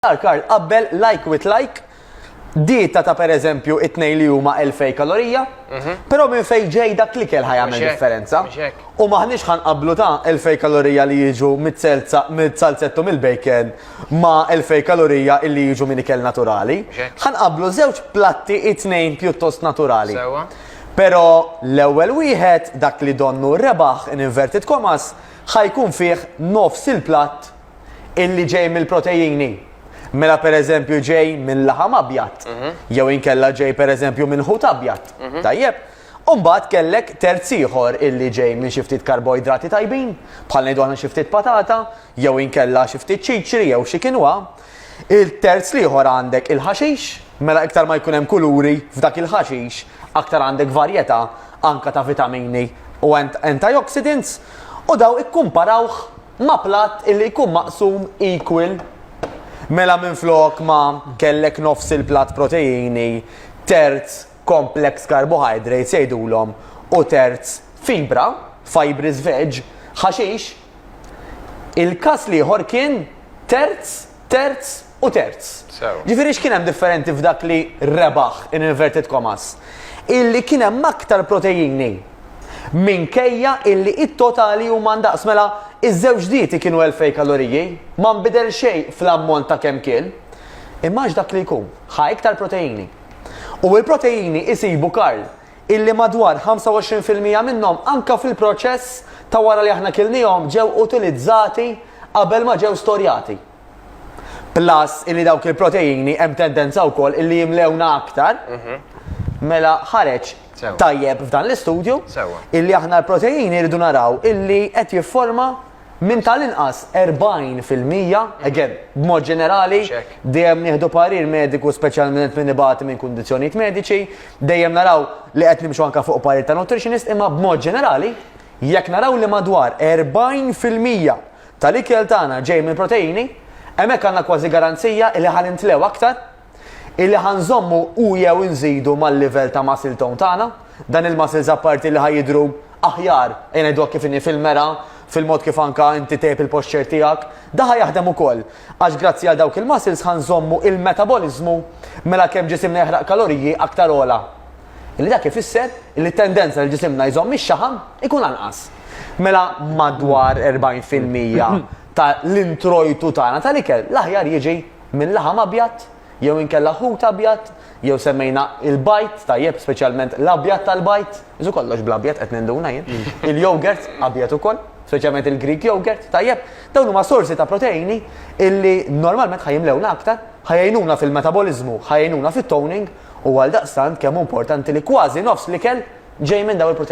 Karl, Karl, qabbel like with like, dieta ta' per eżempju it-tnejn li huma 2000 kalorija, mhm. però minn fejn ġej dak li kell ħajamel differenza. U maħniex ħan qablu ta' 2000 kalorija li jiġu mit-salzettu mill-bacon ma' 2000 kalorija illi jiġu minn ikel naturali. Ħan qablu żewġ platti it-tnejn pjuttost naturali. Pero l-ewwel wieħed dak li donnu rebaħ in inverted commas ħajkun fih nofs il-platt illi ġej mill-protejini. Mela pereżempju ġej minn laħam abjad, mhm. jew inkella ġej pereżempju minn ħut abjad. Mhm. Tajjeb, Umbat kellek terz ieħor illi ġej minn xi ftit karboidrati tajbin, bħal ngħidu aħna xi ftit patata, jew inkella xi ftit ċiċri jew xi kinwa. Il-terz liħor għandek il-ħaxix, mela iktar ma jkun hemm kuluri f'dak il-ħaxix, aktar għandek varjetà anka ta' vitamini u antioxidants u daw ikkumparawh ma' platt illi jkun maqsum equal mela minflok ma kellek nofs il-platt proteini, terz complex carbohydrates jgħidulhom u terz fibra, fibres veg, ħaxix, il-każ l-ieħor kien terz, terz, u terz. Ġifieri x'kien hemm differenti f'dak li rebaħ in inverted commas? Illi kien hemm aktar proteini minkejja illi it-totali huma ndaqs mela iż-żewġ dieti kienu 2000 kaloriji, ma nbidel xejn fl-ammont ta' kemm kien. Imma għax dak li jkun, ħa iktar proteini. U l-proteini isibu Karl illi madwar 25 fil-mija minnhom anke fil-proċess ta' wara li aħna kilniehom ġew utilizzati qabel ma ġew storjati. Plus illi dawk il-proteini hemm tendenza wkoll illi jimlewna aktar. Mhm. Mela ħareġ tajjeb f'dan l-istudju illi aħna l-proteini rridu naraw illi qed jifforma minn tal-inqas 40 fil-mija, mhm. again, b'mod ġenerali, dejjem nieħdu parir mediku speċjalment minn ibati minn kundizzjonijiet mediċi, dejjem naraw li qed nimxu anka fuq parir ta' nutritionist, imma b'mod ġenerali, jekk naraw li madwar 40 fil-mija ta' l-ikel tagħna ġej mill-proteini, hemmhekk għandna kważi garanzija illi ħa nintlew aktar, illi ħa nżommu u jew inżidu mal-livell ta' muscle tone tagħna, dan il-muscles apparti li ħa jidhru aħjar, ejja ngħidu hekk kif inhi fil-mera, fil-mod kif anke inti tgħib il-posture tiegħek, dan ħa jaħdem ukoll. Għax grazzi għal dawk il-muscles ħa nżommu il-metaboliżmu mela kemm ġisimna jeħraq kaloriji aktar ogħla. Illi dak ifisser li t-tendenza li ġisimna jżomm ix-xaħam ikun anqas. Mela madwar 40 fil-mija ta' l-introjtu tagħna tal-ikel l-aħjar jiġi minn laħam abjad jew inkella ħut abjad jew semmejna l-bajd tajjeb speċjalment l-abjad tal-bajd, isu kollox bl-abjad qed ninduna jien, il-yogurt abjad ukoll, speċjalment il-Greek yogurt, tajjeb, dawn huma sorsi ta' proteini illi normalment ħajimlewna aktar, ħajjnuna fil-metaboliżmu, ħajjnuna fit-toning, u għaldaqstant kemm hu importanti li kważi nofs l-ikel ġej minn dawn il-proteini.